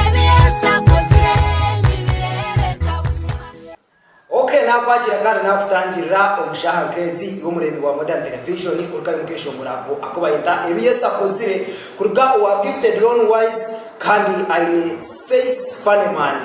Ebi Yesu akozire nibireebeka buzima. OK nakwakira kandi nakutangirira omushaha nkezi iwe omureebi wa Modern Television kuruga ahi mukeshongora ako aku bayeta Ebi Yesu akozire kuruga owa Gifted Lone Wise kandi aine Says Funny Man.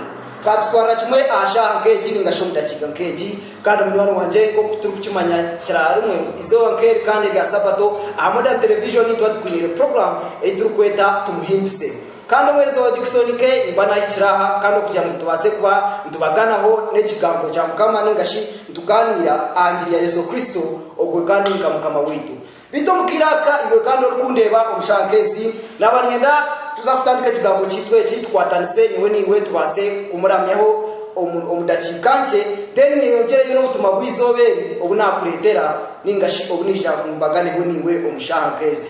Katutwarira kimwe aha shaha nkegi ningashi omu dakiika nkegi kandi munywani wangye nkoku turikukimanya kira rimwe izooba nkeri kandi erya sabato aha Modern Television tuba tukwinire program eyi turikweta Tumuhimbise. Kandi omwezi wa Diksonike nimba naahikire aha, kandi okugira ngu tubaase kuba nitubaganaho n'Ekigambo kya Mukama nainga shi nitugaaniira aha ngiri ya Yesu Kristo, ogwe kandi nka Mukama waitu. Beitu omu kaire aka, iwe kandi orikundeeba omu shaaha nk'ezi, naaba niinyenda tuza kutandika ekigambo kyaitu eki, tukwatanise nyowe naiwe tubaase kumuramyaho omu, omu dakiika nkye, then nyeyongyeregye n'obutumwa bw'eizooba eri obu naakureetera nainga shi obu naija mbaganeho naiwe omu shaaha nk'ezi.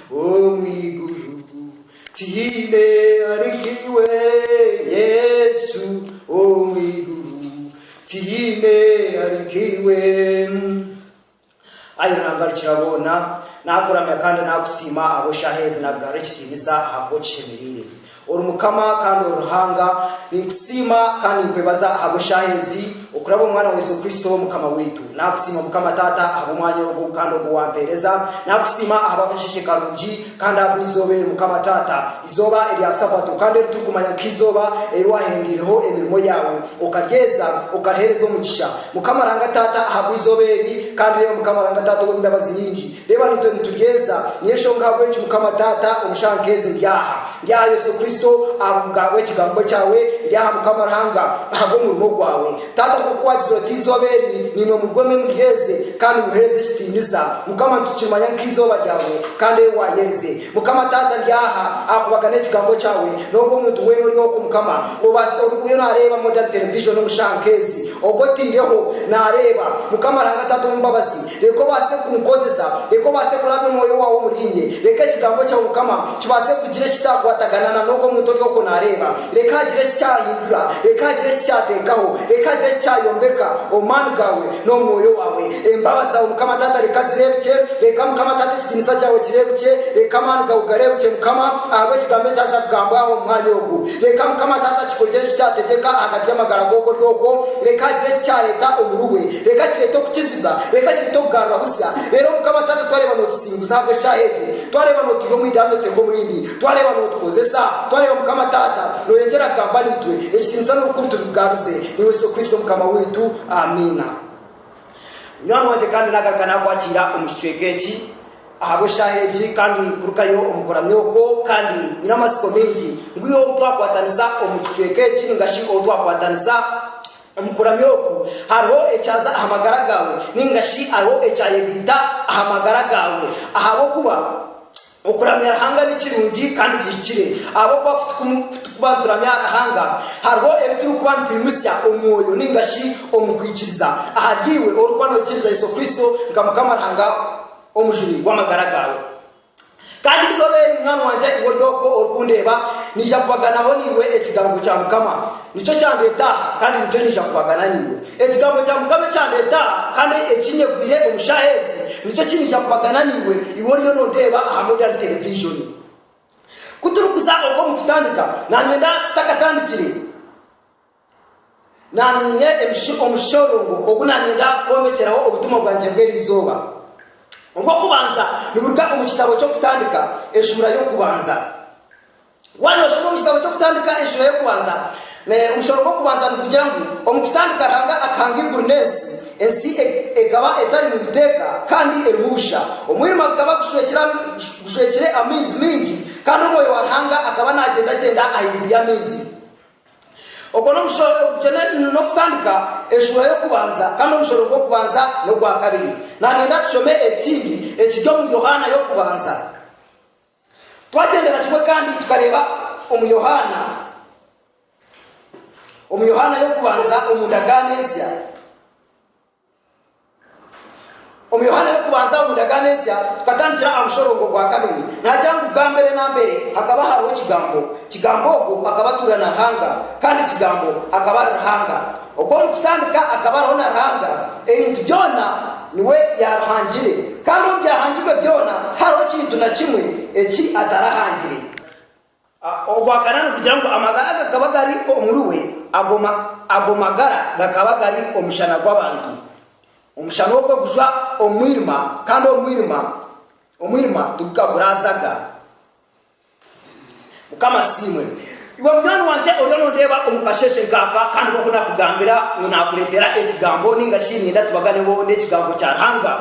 Omu iguru tihaine ari nk'iwe Yesu, Omu iguru tihaine ari nk'iwe. Ai Ruhanga Rukiraboona, naakuramya kandi naakusiima ahabw'eshaaha ezi naakugarura ekitiinisa ahabw'oku kishemereire. Ori Mukama kandi ori Ruhanga. Ninkusiima kandi ninkwebaza ahabw'eshaaha ezi, okuraba omu Mwana wa Yesu Kristo Mukama waitu. Nakusiima Mukama Taata ahabw'omwanya ogu kandi ogu wampeereza. Nakusiima ahabw'akasheeshe karungi kandi ahabw'eizooba eri Mukama Taata, eizooba erya Sabato kandi eri turikumanya nk'eizooba eri wahingurireho emirimo yaawe, okaryeza, okariheereza omugisha. Mukama Ruhanga Taata ahabw'eizooba eri, kandi reeba Mukama Ruhanga Taata ow'embabazi nyingi, Reeba, naitwe nituryeza. Niyo nshonga ahabw'enki, Mukama Taata, omu shaaha nk'ezi ndi aha. Ndi aha, Yesu Kristo, ahabw'Ekigambo Kyawe. Ndi aha, Mukama Ruhanga, ahabw'omurimo Gwawe. Taata, nk'oku Waagize oti, Eizooba eri, naimwe murwome muryeze, kandi muheereze ekitiinisa. Mukama, nitukimanya ngu k'eizooba Ryawe, kandi ei Waayerize. Mukama Taata, ndi aha, ahakubaga n'Ekigambo Kyawe. N'ogu omuntu weena ori okwo, Mukama, obaasize, ori buriyo naareeba Modern Television omu shaaha nk'ezi, ogwo otaireho, naareeba. Mukama Ruhanga Taata ow'embabazi. Reka obaase kunkozesa. Reka obaase kurabya Omwoyo waawe omuriinye. Reka Ekigambo kyawe, Mukama, kibaase kugira eki kyakwatagana na n'ogwo muntu ori okwo naareeba. Reka hagire eki kyahindura. Reka hagire eki kyateekaho. Reka hagire eki kyayombeka, omu maani gaawe n'omu Mwoyo waawe. Embabazi zaawe, Mukama Taata, reka zireebukye. Reka, Mukama Taata, ekitiinisa kyawe kireebukye. Reka amaani gaawe gareebukye, Mukama, ahabw'Ekigambo ekyaza kugambwaho omu mwanya ogu. Reka Mukama Taata kikorere eki kyategyeka ahagati y'amagara g'okori okwo. Reka hagire eki kyareta omuri we. Reka kirete okukizibwa. Reka kirete okugarura busya. Reero Mukama Taata twareeba notusinguza ahabw'eshaaha egi. Twareeba notuiha omu idambi otuteeka omurindi. Twareeba notukozesa. Twareeba Mukama Taata noyongyera kugamba naitwe. Ekitiinisa n'obukuru tubigaruze. Niiwe Yesu Kristo Mukama waitu. Amiina. Nyowe Mwojo kandi naagaruka naakwakiira omu kicweka eki ahabw'eshaaha egi kandi kurukayo omu kuramya okwo kandi nyine amatsiko maingi ngu iwe ou twakwataniza omu kicweka eki ninga shi ou twakwataniza omu kuramya oku hariho ekyaza aha magara gaawe ninga shi hariho ekyayegaita aha magara gaawe ahabw'okuba Okuramya Ruhanga ni kirungi kandi kihikire ahabw'okuba ku turikuba nituramya Ruhanga, hariho ebi turikuba nitwimutsya omu mwoyo nainga shi omu kwikiriza. Ahary'iwe orikuba noikiriza Yesu Kristo nka Mukama Ruhanga Omujuni w'amagara gaawe. Kandi eizooba eri, munywani wangye iwe ori okwo orikundeeba, naija kubaganaho naiwe ekigambo kya Mukama. Nikyo kyandeeta aha, kandi nikyo niija kubagana naiwe. Ekigambo kya Mukama ekyandeeta aha, kandi ekinyegwire omu shaaha ezi, nikyo ki niija kubagana naiwe, iwe oriyo noondeeba aha modern television. Ku turikuza okwo omu kutandika, naanye nda ntakatandikire, naanye nyine emish, omushororongo ogu naanye nda kwomekyeraho obutumwa bwangye bw'eri izooba. Ogw'okubanza niburuga omu kitabo ky'Okutandika, eshuura y'okubanza. Waaba noshoma omu kitabo ky'Okutandika enshuro y'okubanza, omushoro gw'okubanza nigugira ngu, Omu kutandika Ruhanga akahanga eiguru n'ensi. Ensi ekaba etarimu biteeka kandi erimu busha. Omwirima gukaba gushwekire amaizi maingi, kandi omwoyo wa Ruhanga akaba naagyendagyenda ahaiguru y'amaizi. Ogwo n'okutandika enshuro y'okubanza, kandi omushoro gw'okubanza n'ogwa kabiri. Naaba niinyenda tushome ekindi ekiri omu Yohaana y'okubanza. Twagyendera kimwe kandi tukareeba omu Yohaana, omu Yohaana y'okubanza omu ndagaano ensya, omu Yohaana y'okubanza omu ndagaano ensya tukatandikira aha mushorongo gwa kabiri. Nihagira ngu bwa mbere na mbere hakaba hariho Kigambo, Kigambo ogwo akaba atuura na Ruhanga, kandi Kigambo akaba ari Ruhanga. Ogwo omu kutandika akaba ariho na Ruhanga, ebintu byona niwe yaabihangire, kandi omu byahangirwe byona tihariho kintu na kimwe eki atarahangire. Ogwakana nigugira ngu amagara gakaba gari omuriwe, ago magara gakaba gari omushana gw'abantu. Omushana ogwo gujwa omu mwirima, kandi omwirima tigukagurazaaga. Mukama asiimwe. Iwe munywani wangye oriyo noondeeba omu kasheeshe nkaaka, kandi nk'oku naakugambira ngu naakureetera Ekigambo, nainga shi niinyenda tubaganeho n'Ekigambo kya Ruhanga.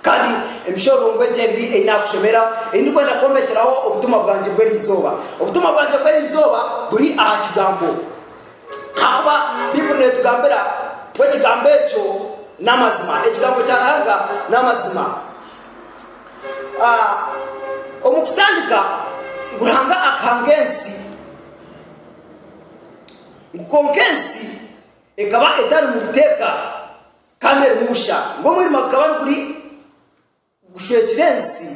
Kandi emishororongo egi ebiri ei naakushomera, ei ndikwenda kwombekeraho obutumwa bwangye bw'eri izooba. Obutumwa bwangye bw'eri izooba buri aha Kigambo. Ahakuba Baibuli neetugambira ngu Ekigambo ekyo n'amazima. Ekigambo kya Ruhanga n'amazima. omu kutandika ngu ruhanga akahanga ensi ngu konka ensi ekaba etari mu buteeka kandi erimu busha ngu omwirima gukaba niguri gushwekire ensi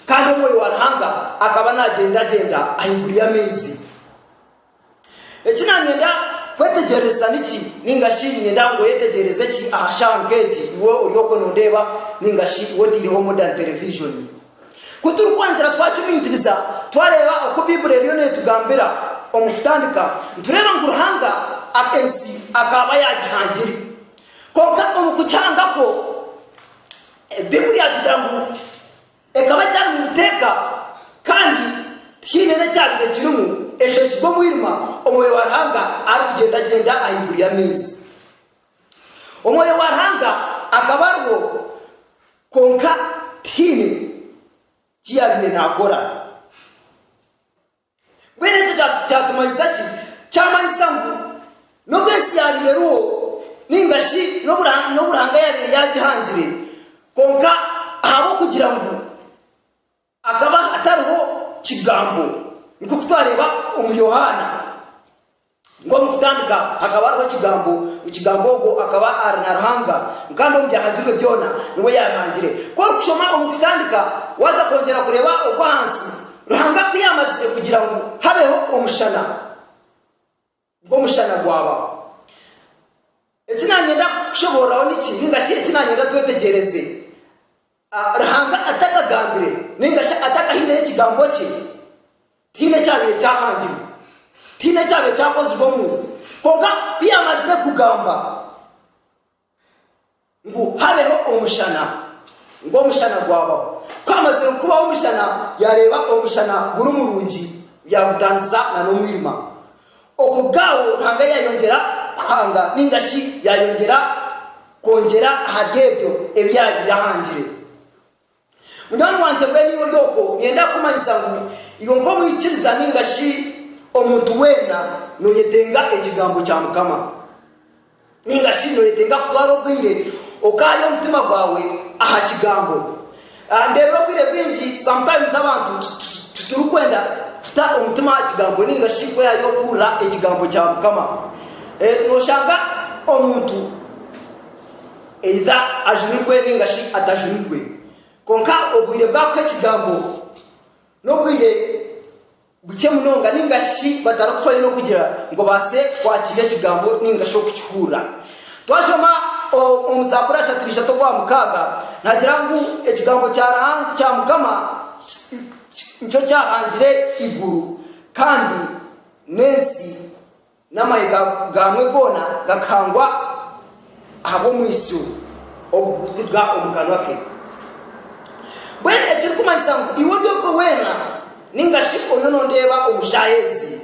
kandi omwoyo wa ruhanga akaba nagyendagyenda ahaiguru y'amaizi Eki naanyenda kwetegyereza niki, nainga shi niinyenda ngu oyetegyereze ki aha shaaha nk'egi, iwe ori okwo noondeeba, nainga shi iwe otaireho modern television? Ku turikwangira twacumiitiriza, twareeba oku Baibuli eriyo neetugambira omu kutandika, nitureeba ngu Ruhanga ensi akaaba yaagihangire. Kwonka omu kugihanga kwo, Baibuli yaatugira ngu. Ekaba etari mu buteeka kandi tihaine n'ekyabaire kirimu, eshwekirwe omwirima, Omwoyo wa Ruhanga arikugyendagyenda ahaiguru y'amaizi. Omwoyo wa Ruhanga akaba ariho, kwonka tihaine ki yaabaire naakora. Mbwenu ekyo kyatumanyisa ki? Kyamanyisa ngu n'obu ensi yaabaire eriho nainga shi n'obu Ruhanga yaabaire yaagihangire, kwonka ahabw'okugira ngu akaba atariho Kigambo, nk'oku twareeba omuri Yohaana. Nk'omu kutandika hakaba hariho Ekigambo, Ekigambo ogwo akaba ari na Ruhanga, kandi omu byahangirwe byona niwe yaabihangire. Ku orikushoma omu kutandika, waaza kwongyera kureeba ogw'ahansi, Ruhanga ku yaamazire kugira ngu habeho omushana, ngu omushana gwabaho. Eki naanyenda kukushoboororeraho niki, nainga shi eki naanyenda twetegyereze? Ruhanga atakagambire nainga shi atakahaireyo ekigambo kye, tihaine ekyabaire kyahangirwe, tihaine ekyabaire kyakozirwe omu nsi. Kwonka ku yaamazire kugamba ngu habeho omushana, ngu omushana gwabaho. Ku haamazire kubaho omushana, yaareeba omushana guri murungi, yaagutantisa n'omwirima. Oku bw'aho Ruhanga yaayongyera kuhanga, nainga shi yaayongyera kwongyera ahari ebyo ebi yaabaire ahangire. Munywani wangye, mbwenu iwe ori okwo, niinyenda kukumanyiisa ngu iwe nk'omwikiriza nainga shi omuntu weena, nooyetenga ekigambo kya Mukama. Ninga shi nooyetenga kutwara obwire okaaha omutima gwawe aha Kigambo? Ndeebire obwire bwingi sometimes abantu titurikwenda kuta omutima aha Kigambo ninga shi kwehayo kuhurira Ekigambo kya Mukama. Nooshanga omuntu either ajunirwe ninga shi atajunirwe. Kwonka obwire bwakuha Ekigambo n'obwire. Bukye munonga ninga shi batarikuhwayo n'okugira ngu babaase kwakira Ekigambo ninga shi okukihurira. Twashoma omu Zaaburi ashatu n'ishatu okwa mukaaga, nihagira ngu Ekigambo kya Ruhanga kya Mukama nikyo kyahangire eiguru kandi n'ensi. N'amahega gaamwe goona gakahangwa ahabw'omwitsyo ogurikutuga omu kanwa ke. Mbwenu ekirikumanyisa ngu iwe ori ogwo weena, nainga shi oriyo noondeeba omu shaaha ezi,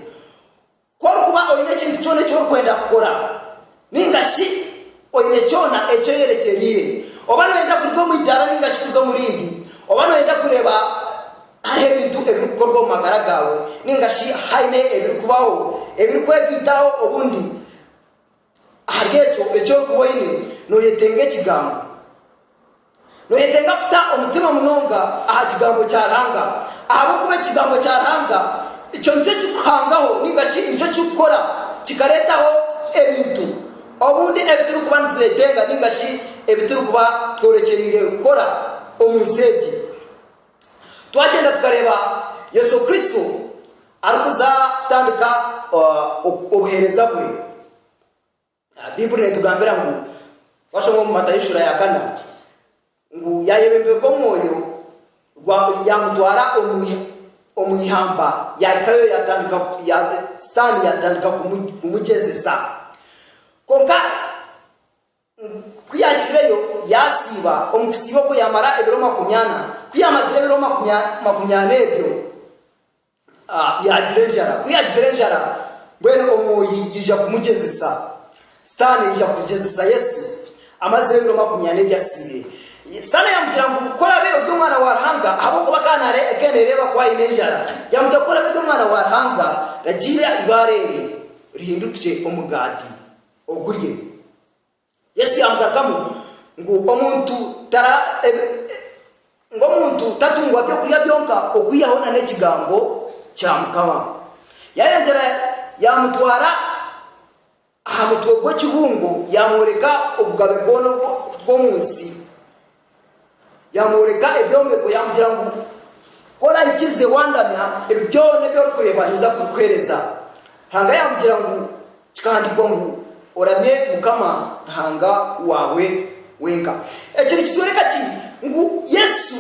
ku orikuba oine ekintu kyona eki orikwenda kukora, nainga shi oine kyona eki oyerekyereire, oba nooyenda kuruga omu idaara nainga shi kuza omu rindi, oba nooyenda kureeba Hariho ebintu ebirikukorwa omu magara gaawe nainga shi haine ebirikubaho ebirikwetitaho obundi ahari ekyo eki orikuba oine, nooyetenga Ekigambo. Nooyetenga kuta omutima munonga aha Kigambo kya Ruhanga, ahabw'okuba Ekigambo kya Ruhanga ekyo nikyo kikuhangaho nainga shi nikyo kirikukora kikareetaho ebintu obundi ebi turikuba nituretenga nainga shi ebi turikuba tworekyereire kukora omu nsi egi. Twagyenda tukareeba Yesu Kristo arikuza kutandika obuheereza bwe, Baiburi neetugambira ngu, twashoma omu Matayo shuura ya kana, ngu yaayebemberwa omwoyo yaamutwara omu ihamba, yaahikayo Sitaane yaatandika kumugyezesa. Kwonka Ku yaahikireyo, yaasiiba. Omu kusiiba okwo yaamara ebiro makumi ana. Ku yaamazire ebiro makumi ana ebyo, yaagira enjara. Ku yaagizire enjara, mbwenu omwohi yaija kumugyezesa. Sitaane yaija kugyezesa Yesu amazire ebiro makumi ana ebi asiibire. Sitaane yaamugira ngu, Ku oraabe ori Omwana wa Ruhanga, ahabw'okuba akaba naareeba ku aine enjara, yaamugira ngu, Ku oraabe ori Omwana wa Ruhanga, ragiira eibaare eri rihinduke omugaati. ogurye. Yesu yaamugarukamu ngu, Omuntu tara, ebi, e, ngu omuntu tatungwa by'okurya byonka okwihaho na n'ekigambo kya Mukama. Yaayongyera yaamutwara aha mutwe gw'ekibungo yaamworeka obugabe bwona obw'omu nsi. Yaamworeka ebyombeko yaamugira ngu, Ku oraahikiirize waandamya, ebi byona ebi orikureeba ninza kubikuheereza. Ruhanga yaamugira ngu, Kikahandiikwa ngu, Oramye Mukama Ruhanga waawe wenka. Eki nikitworeka ki? Ngu Yesu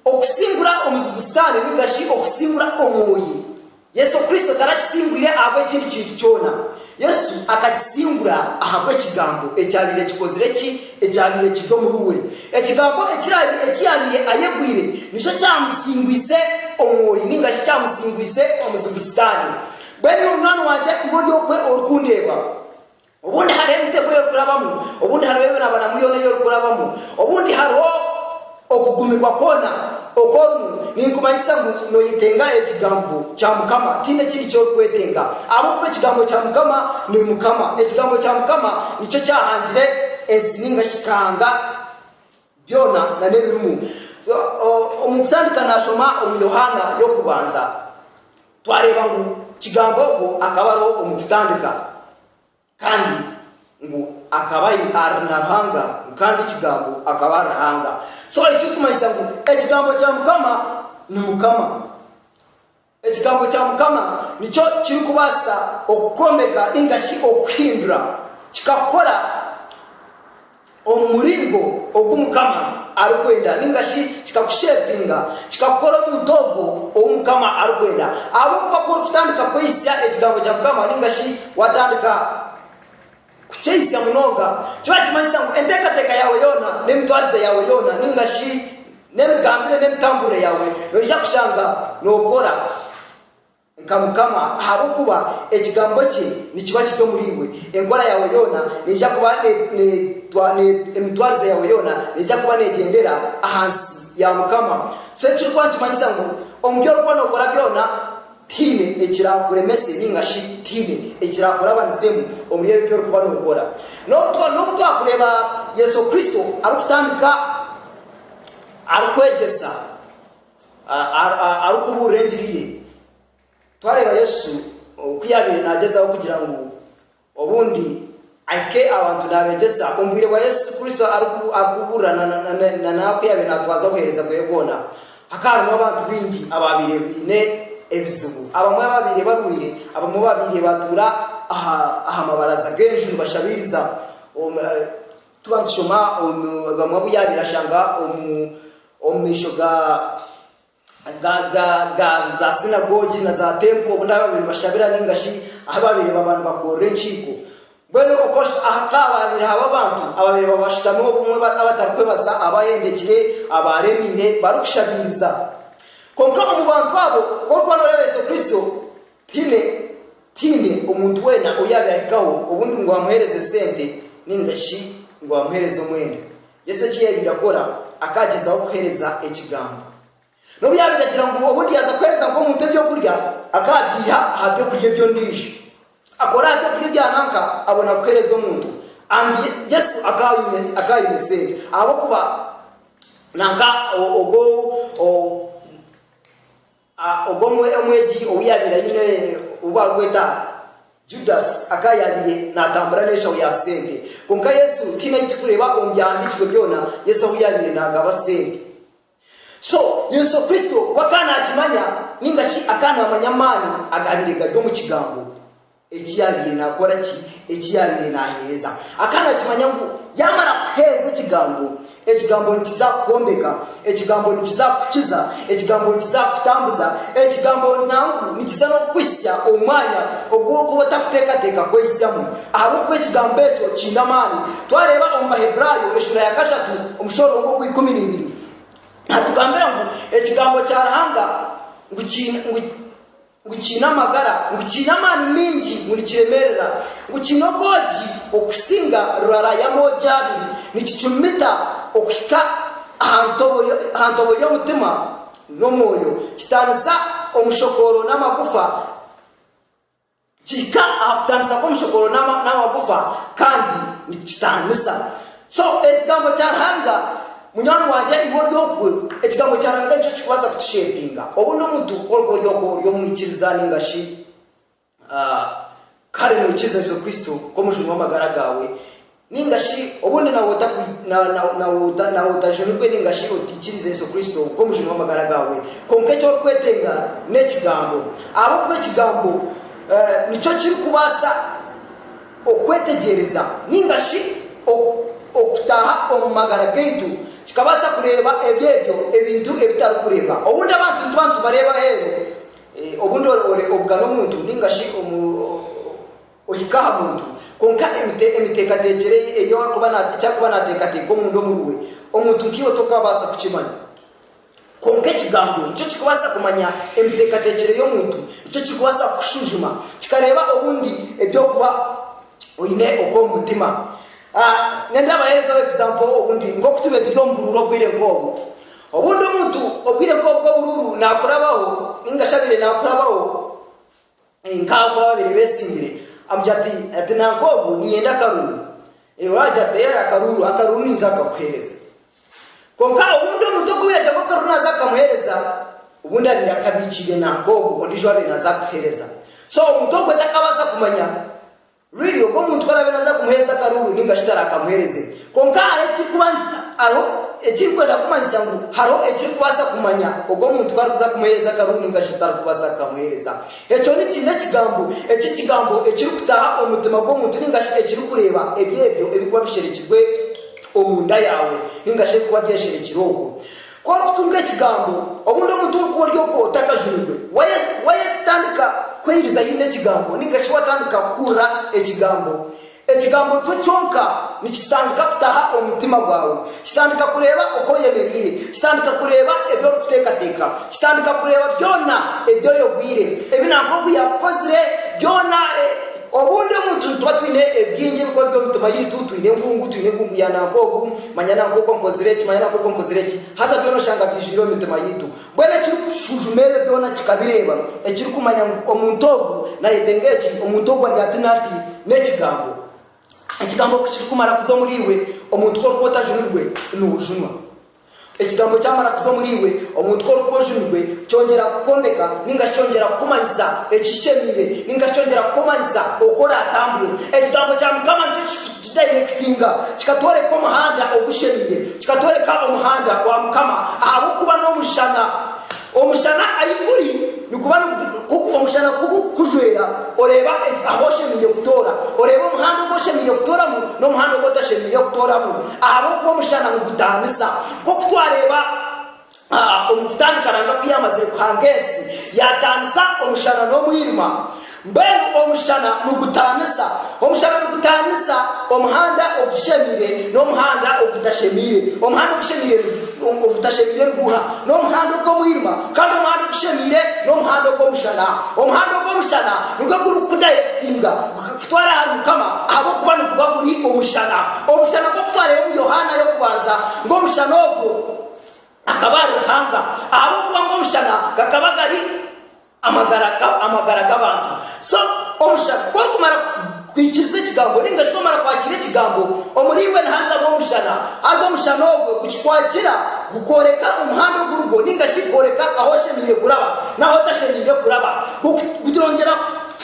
okusingura omuzigu Sitaane nainga shi okusingura omwoyi. Yesu Kristo taragisingwire ahabw'ekindi kintu kyona. Yesu akagisingura ahabw'Ekigambo ekyabaire kikozire ki? Ekyabaire kiri omuri we. Ekigambo eki yaabaire ayegwire nikyo kyamusingwise Omwoyo nainga shi kyamusingwise omuzigu Sitaane. Mbwenu nyowe munywani wangye iwe ori okwe orikundeeba, Obundi hariho emitego ey'orikurabamu, obundi hariho emirabaramu yoona ei orikurabamu, obundi hariho okugumirwa kwona oku orimu, ninkumanyisa ngu noyetenga ekigambo kya Mukama, tihaine ekindi eki orikwetenga, ahabw'okuba ekigambo kya Mukama ni Mukama, ekigambo kya Mukama nikyo kyahangire ensi ninga shi Kahanga byona na n'ebirimu. Omu kutandika nashoma omu Yohaana y'okubanza. Twareeba ngu Kigamba ogwo akaba ari omu kitandika kandi ngu akaba ari na Ruhanga ngu kandi Kigambo akaba ari Ruhanga. So ekirikumanyisa ngu Ekigambo kya Mukama ni Mukama. Ekigambo kya Mukama nikyo kirikubaasa okukwombeka ninga shi okukuhindura kikakukora. omu muringo ogu Mukama arikwenda, ninga shi kikakushepinga, kikakukora omuntu ogwo ou Mukama arikwenda. Ahabw'okuba ku orikutandika kwehisya Ekigambo kya Mukama, ninga shi waatandika kukyehisya munonga, kiba nikimanyisa ngu enteekateeka yaawe yoona, n'emitwarize yaawe yoona, ninga shi n'emigambire n'emitamburire yaawe, noija kushanga nookora. Nka Mukama, ahabw'okuba Ekigambo kye nikiba kiri omuri iwe, enkora yaawe yoona neija kuba ne, ne, emitwarize yaawe yoona neija kuba neegyendera ahansi ya Mukama. So eki kirikuba nikimanyisa ngu omu bi orikuba nookora byona, tihaine ekiraakuremese nainga shi tihaine ekiraakurabanizeemu omuri ebyo bi orikuba nookora. N'obu, n'obu twakureeba Yesu Kristo arikutandika arikwegyesa. arikubuurira engiri ye. Twareeba Yesu oku yaabaire naagyezaho kugira ngu obundi ahike abantu naabeegyesa omu bwire bwa Yesu Kristo arikubuurira na n'aku yaabaire naatwaza obuheereza bwe bwona, hakaba harimu abantu baingi abaabaire baine ebizibu. Abamwe baabaire barwaire, abamwe baabaire baatuura aha mabaraza g'enju nibashabiiriza. Tuba nitushoma omu bamwe abu yaabaire ashanga omu omu maisho ga ga ga ga za sinagogi na za tempo obu baabaire nibashabira ninga shi ahu baabaire baba nibakorera enkiiko. Mbwenu okosh aha kaabaire haba abantu abaabaire baba bashutami obumwe ba abatarikwebaza abahendekire abaaremiire barikushabiiriza. Kwonka omu bantu abo ku orikuba nooreeba Yesu Kristo, Tihaine tihaine omuntu weena ou yaabirahikaho obundi ngu amuheereze sente nainga shi ngu amuheereze omwenda. Yesu eki yaabaire akora, akaagyezaho kuheereza Ekigambo. N'obu yaabaire agira ngu obundi yaaza kuheereza nk'omuntu eby'okurya, akaabiiha aha by'okurya eby'ondiijo. Akora aha by'okurya ebya nanka abona kuheereza omuntu. And Yesu akaba aine akaba aine sente ahabw'okuba nanka ogwo o. A Ogwo omwegi ou yaabaire aine ou barikweta Judasi akaba yaabaire naatambura n'enshaho ya sente. Kwonka Yesu twine ahu turikureeba omu Byahandiikirwe byona Yesu ahu yaabaire naagaba sente. So, Yesu Kristo we akaba naakimanya nainga shi akaba naamanya amaani agaabaire gari omu Kigambo. Eki yaabaire naakora ki? Eki yaabaire naaheereza. Akaba naakimanya ngu yaamara kuheereza Ekigambo, Ekigambo nikiza kukwombeka, Ekigambo nikiza kukukiza, Ekigambo nikiza kukutambuza, Ekigambo nangwa nikiza n'okukuhitsya omu mwanya ogu orikuba otakuteekateeka kwehitsyamu, ahabw'okuba Ekigambo ekyo kiine amaani. Twareeba omu Baheburaayo eshuura ya kashatu, omushoororongo ogwa ikumi neibiri, nihatugambira ngu Ekigambo kya Ruhanga ngu kiine, ngu. ngu kiine amagara, ngu kiine amaani maingi, ngu nikiremeerera, ngu kiine obwogi okusinga rurara y'amoogi abiri, nikicumita okuhika aha ntobo aha ntobo y'omutima n'omwoyo, kitaanisa omushokooro n'amagufa, kihika aha kutaanisa kw'omushokooro n'amagufa, kandi nikitaanisa So ekigambo kya Ruhanga munywani wangye iwe ori ogwe ekigambo kya Ruhanga nikyo kikubaasa kutushepinga obundi omuntu ku orikuba ori ogwe ori omwikiriza ninga shi kare noikiriza Yesu Kristo nk'omujuni w'amagara gaawe ninga shi obundi nawe otajunirwe ninga shi otaikiriza Yesu Kristo nk'omujuni w'amagara gaawe kwonka eki orikwetenga n'ekigambo ahabw'okuba ekigambo nikyo kirikubaasa Okwetegyereza nainga shi okutaaha omu magara gaitu kikabaasa kureeba ebi ebyo ebintu ebitarikureeba. Obundi abantu nitubantu bareeba aheeru. Obundi obugana omuntu nainga shi ohika aha muntu, kwonka emiteekateekyere ye, eki arikuba naateekateeka omunda omuriwe, omuntu nkaiwe tokabaasa kukimanya. Kwonka Ekigambo nikyo kirikubaasa kumanya emiteekateekyere y'omuntu, nikyo kirikubaasa kukushujuma, kikareeba obundi eby'okuba oine okwo omu mutima. Nenda baherezeho example obundi nk'oku turiyo turi omu buruuru obwire nk'obu. Obundi omuntu obwire nk'obu bw'oburuuru naakurabaho, nainga shi abaire naakurabaho, Nk'abo abaabaire beesimbire. Amugira ati, ati, Nanku ogu niinyenda akaruuru. Oraagira ati, Eeh, akaruuru, akaruuru ninza kukakuheereza. Kwonka obundi omuntu ogu yagira ngu akaruuru naaza kukamuheereza, obundi abaire akabiikiire nanku ogu ondiijo owaabaire naaza kukuheereza. So omuntu ogwo takabaasa kumanya Really, ogu omuntu ku araabe naaza kumuheereza akaruuru nainga shi taraakamuheereze. Kwonka hariho ekirikuba nti, hariho ekirikwenda kumanyisa ngu hariho ekirikubaasa kumanya ogu omuntu ku arikuza kumuheereza akaruuru nainga shi tarikubaasa kukamuheereza. Ekyo ni kiine ekigambo. Eki ekigambo ekirikutaaha omu mutima gw'omuntu nainga shi ekirikureeba eby'ebyo ebirikuba bisherekirwe omunda yaawe nainga shi ebirikuba byesherekire okwo. K'orikutunga ekigambo, obundi omuntu orikuba ori okwo otakajunirwe, wayetandika kweyiriza haine ekigambo ninga shi watandika kuhurira ekigambo, ekigambo kyo kyonka nikitandika kutaha omu mutima gwawe. Kitandika kureeba oku oyemereire. Kitandika kureeba ebi orikuteekateeka. Kitandika kureeba byona ebi oyogwire, ebi nangwa ogu yaakukozire, byona. Obundi omuntu nituba twine ebingi ebirikuba biri omu mitima yaitu. Twine enkungu, twine enkungu ya nangwa ogu. Manya na nk'oku nkozire eki, manya na nk'oku nkozire eki. Haza byona oshanga byijwire omu mitima yaitu. Mbwenu ekirikushujuma ebyo byona kikabireeba, ekirikumanya ngu omuntu ogu nayetenga eki, omuntu ogu ari hati na hati, n'Ekigambo. Ekigambo ku kirikumara kuza omuri iwe, omuntu ku orikuba otajunirwe, noojunwa. Ekigambo kyamara kuza omuri iwe, omuntu ku orikuba ojunirwe, kyongyera kukwombeka, ninga shi kyongyera kukumanyisa ekishemeire, ninga shi kyongyera kukumanyisa oku oraatambure. Ekigambo kya Mukama nikyo ki, Kidayirekitinga, kikatworeka omuhanda ogushemeire, kikatworeka omuhanda gwa Mukama ahabw'okuba n'omushana. Omushana ahi guri, niguba nigugu, omushana ku gurikukujwera, oreeba ahu oshemeire kutoora, oreeba omuhanda ogu oshemeire kutooramu n'omuhanda ogu otashemeire kutooramu, ahabw'okuba omushana nigutaanisa. Nk'oku twareeba. A Omu kutandika nanga ku yaamazire kuhanga ensi, yaataanisa omushana n'omwirima. Mbwenu omushana nigutaanisa. Omushana nigutaanisa omuhanda ogushemeire n'omuhanda ogutashemeire. Omuhanda ogushemeire ni, ogutashemeire ni guha? N'omuhanda ogw'omwirima. Kandi omuhanda ogushemeire n'omuhanda ogw'omushana. Omuhanda ogw'omushana nigwo gurikukudayirekitinga, gukakutwara ahari Mukama, ahabw'okuba niguba guri omushana. Omushana gw'okutwara Yohaana y'okubanza ng'omushana ogwo. akaba ari Ruhanga, ahabw'okuba ngu omushana gakaba gari amagara amagara g'abantu. So, omushana, ku orikumara kwikiriza ekigambo, ninga shi ku omara kwakira ekigambo, omuri iwe nihazamu omushana. Haza omushana ogwo gukikwatira, gukworeka omuhanda ogu orugwo, ninga shi gukworeka ahu oshemeire kuraba n'ahu otashemeire kuraba. Gu, gutongyera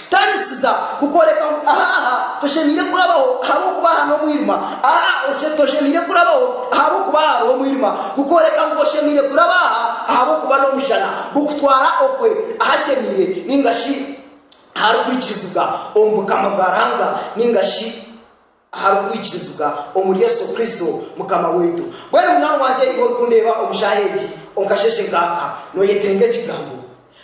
Kutanisiza, Kukworeka ngu aha aha toshemeire kurabaho ahabw'okuba aha n'omwirima. Aha aha toshemeire kurabaho ahabw'okuba aha hariho omwirima. Kukworeka ngu oshemeire kuraba aha ahabw'okuba n'omushana. Kukutwara okwe ahashemeire ninga shi aharikwikirizibwa omu Bukama bwa Ruhanga ninga shi. Ahari kwikirizibwa omuri Yesu Kristo Mukama waitu. Mbwenu munywani wangye iwe orikundeeba omu shaaha egi omu kasheeshe nk'aka, noyetenga ekigambo?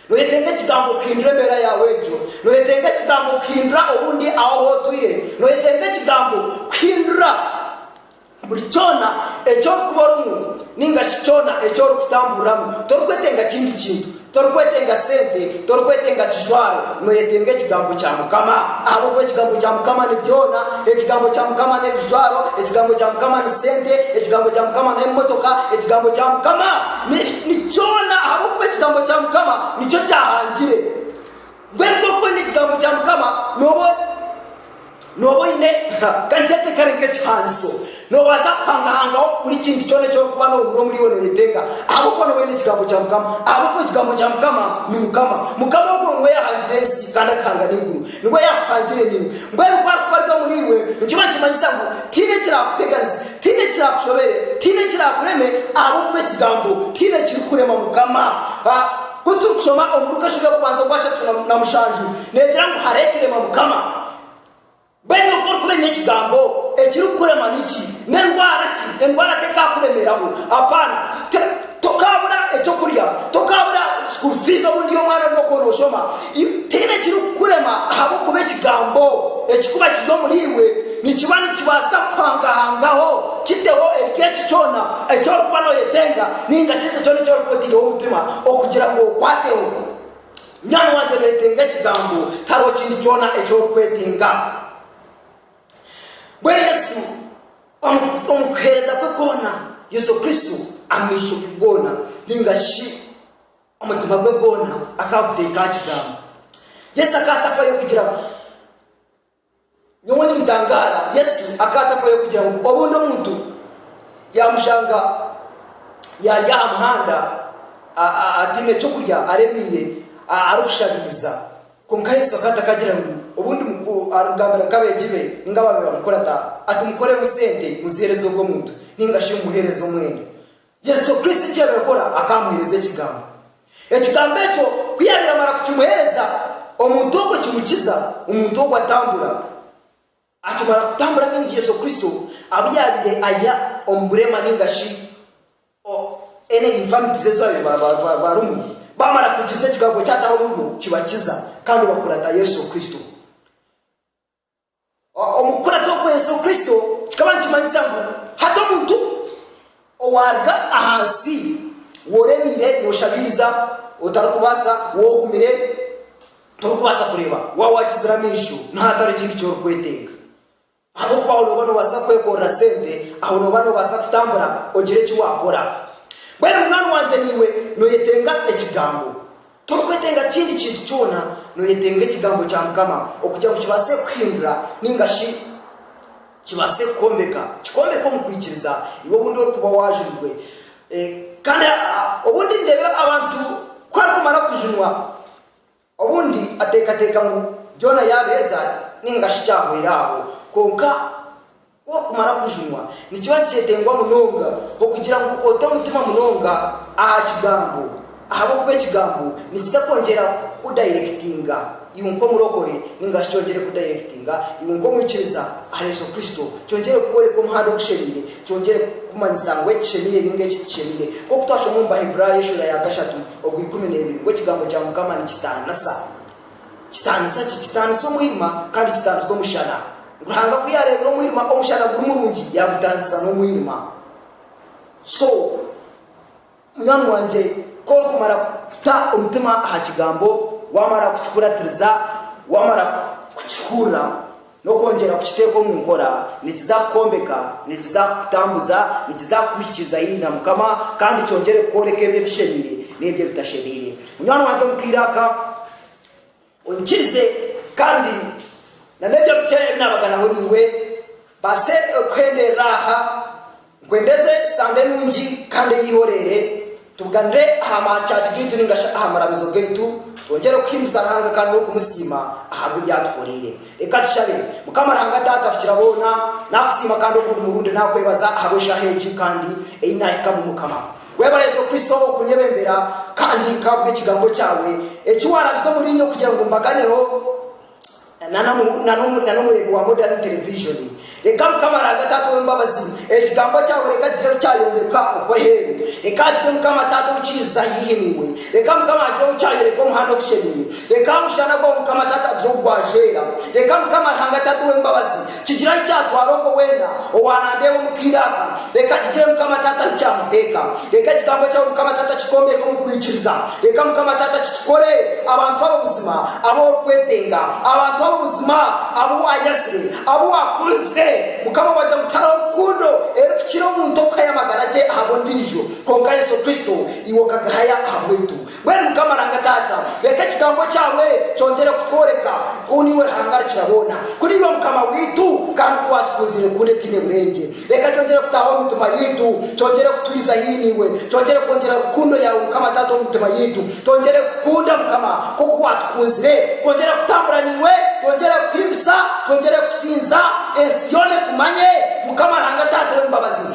Noyetenga ekigambo kuhindura embeera yaawe egyo? Noyetenga ekigambo kuhindura obu ndi aho ahu otwire? Noyetenga ekigambo kuhindura buri kyona eki orikuba orimu ninga shi kyona eki orikutamburiramu? Torikwetenga kindi kintu. Torikwetenga sente, torikwetenga kijwaro, noyetenga ekigambo kya Mukama. Ahabw'okuba ekigambo kya Mukama ni byona, ekigambo kya Mukama n'ebijwaro, ekigambo kya Mukama ni sente, ekigambo kya Mukama n'emotoka, ekigambo kya Mukama ni kyona ahabw'okuba ekigambo kya Mukama nikyo kyahangire. Mbwenu ku orikweenda ekigambo kya Mukama, nooba nooba oine, ha, kankyete kare nk'ekihandiso, noobaasa kuhangahangaho buri kintu kyona eki orikuba noohurira omuri iwe nooyetenga, ahabw'okuba nooba oine ekigambo kya Mukama. Ahabw'okuba ekigambo kya Mukama ni Mukama. Mukama ogwo niwe yaahangire ensi kandi akahanga n'eiguru. Niwe yaakuhangire naiwe. Mbwenu ku arikuba ari omuri iwe, nikiba nikimanyisa ngu tihaine ekiraakuteganize, tihaine ekiraakushobere, tihaine ekiraakureme, ahabw'okuba ekigambo tihaine ekirikurema Mukama. Ha. Ku turikushoma omu Luka eshobe y'okubanza ogwa ashatu na na mushanju neegira ngu hariho ekirema Mukama. Mbwenu iwe ku orikuba oine ekigambo ekirikukurema niki? N'endwara shi? Endwara tekaakuremeraho. Apaana. Ti, tokaabura eky'okurya, tokaabura school fees obu ndi omwana ory'okuba nooshoma, Tihaine ekirikukurema ahabw'okuba Ekigambo ekikuba kiri omuri iwe nikiba nikibaasa kuhangahangaho kiteho eryekyo kyona eki orikuba nooyetenga nainga shi ekyo kyona eki orikuba otaireho omutima okugira ngu okwateho. Munywani wangye nooyetenga Ekigambo, tihariho kindi kyona eki orikwetenga. Mbwenu Yesu omu omu kuheereza kwe kwona, Yesu Kristo amaisho ge goona nainga shi. Omutima gwe gwona akaba aguteeka aha Kigambo. Yesu akaba atakwayo kugira ngu, Nyowe nintangaara. Yesu akaba atakwayo kugira ngu obundi omuntu yaamushanga yaari aha muhanda, a- a- ataine ky'okurya, aremeire, a- arikushabiiza. Kwonka Yesu akaba atakagira ngu obundi muku- arikugambira nk'abeegi be ninga abaabaire bamukuraata ati, Mukoremu sente, muziheereze ogwo muntu, ninga shi mumuheereze omwenda. Yesu Kristo eki yaabaire akora, akaba amuheereza Ekigambo. Ekigambo ekyo ku yaabaire amara kukimuheereza, omuntu ogwo kimukiza, omuntu ogwo atambura. Akimara kutambura baingi Yesu Kristo abu yaabaire aiha omu bureema nainga shi any infirmities ezi baabaire barimu, baamara kuhikiriza Ekigambo eki ataho omuri bo, kibakiza, kandi bakura nka Yesu Kristo. Omu kukurata okwo Yesu Kristo kikaba nikimanyisa ngu hati omuntu owaaruga aha nsi w'oremeire nooshabiiriza otarikubaasa, w'ohumire torikubaasa kureeba, waaba waakizire amaisho niho hatari ekintu eki orikwetenga. Ahabw'okuba aho nooba noobaasa kwekorera sente, aho nooba noobaasa kutambura ogire eki waakora. Mbwenu munywani wangye naiwe nooyetenga Ekigambo. Torikwetenga kindi kintu kyona, nooyetenga Ekigambo kya Mukama okugira ngu kibaase kukuhindura nainga shi kibaase kukwombeka. Kikwombeke omu kwikiriza, iwe obundi orikuba waajurirwe. Kandi obundi nindeeba abantu ku arikumara kujunwa, obundi ateekateeka ngu byona yaabiheeza nainga shi kyahwera aho. Kwonka. Ku orikumara kujunwa, nikiba nikyetengwa munonga okugira ngu ote omutima munonga aha Kigambo, ahabw'okuba Ekigambo nikiza kwongyera kudayirekitinga iwe nk'omurokore, ninga shi kyongyere kudayirekitinga iwe nk'omwikiriza ahari Yesu Kristo, kyongyere kukworeka omuhanda ogushemeire, kyongyere kukumanyisa ngu eki kishemeire ninga eki tikishemeire. Nk'oku twashoma omu Baheburaayo eshura ya kashatu ogwa ikumi n'ebiri ngu Ekigambo kya Mukama nikitaanisa. Kitaanisa ki? Kitaanisa omwirima kandi kitaanisa omushana. Ruhanga ku yaareebire omwirima omushana guri murungi, yaagutaanisa n'omwirima. So, munywani wangye, ku orikumara kuta omutima aha Kigambo, waamara kukikuratiriza, waamara kukihurira, N'okwongyera kukiteeka omu nkora, nikiza kukwombeka, nikiza kukutambuza, nikiza kukuhikiriza haihi na Mukama, kandi kyongyere kukworeka ebyo ebishemeire n'ebyo ebitashemeire. Munywani wangye omu kaire aka, oinyikirize kandi nan'ebyo bikye ebi naabaganaho naiwe, mbaase kuheenderera aha. Nkwenda eze Sande nungi kandi eyeihorere, tubuganire aha ma church gaitu ninga shi aha maramizo gaitu, twongyere kuhimbisa Ruhanga kandi n'okumusiima ahabwa ebi atukoreire. Reka tushabe. Mukama Ruhanga Taata Rukira boona, nakusiima kandi ogundi murundi nakwebaza ahabwa eshaha egi kandi eyi nahikamu Mukama. Webare Yesu Kristo okunyebembera kandi nkaguha ekigambo kyawe eki warabize omuriinye kugira ngu mbaganeho. Na n'omureebi wa Modern Television. Reka Mukama Raanga Taata ow'embabazi, Ekigambo kyawe reka agire ohu kyayombeka okwo aheeru. Reka hagire Mukama Taata ou kiiza haihi niiwe. Reka Mukama hagire ou kyayoreka omuhanda ogushemeire. Reka aha mushana gwawe Mukama Taata hagire ou gwajweera. Reka Mukama Ruhanga Taata ow'embabazi. Kigira kyatwara ogwo weena owaanandeeba omu kaire aka, reka kigire Mukama Taata ahu kyamuteeka. Reka ekigambo ekyo Mukama Taata kikombeke omu kwikiriza. Reka Mukama Taata kikikore abantu abo buzima abu orikwetenga, abantu abo buzima abu waayazire, abu waakunzire. Mukama wagira ngu tihariho rukundo erikukira omuntu okuhayo amagara ge ahabw'ondiijo, kwonka Yesu Kristo iwe okagahaya ahabwaitu. Mbwenu Mukama Ranga Taata, reka ekigambo kyawe kyongyere kutworeka ku niiwe Ruhanga Rukiraboona, ku niiwe Mukama waitu, kandi ku waatukunziire rukundo etaine burengye. Reka kyongyere kutaaha omu mitima yaitu, kyongyere kutwiriza haihi naiwe, kyongyere kwongyera rukundo yaawe Mukama Taata omu mitima yaitu, twongyere kukukunda Mukama nk'oku waatukunzire, twongyere kutambura naiwe, twongyere kukuhimbisa, twongyere kukusinza, ensi yoona ekumanye, Mukama Ranga Taata ow'embabazi.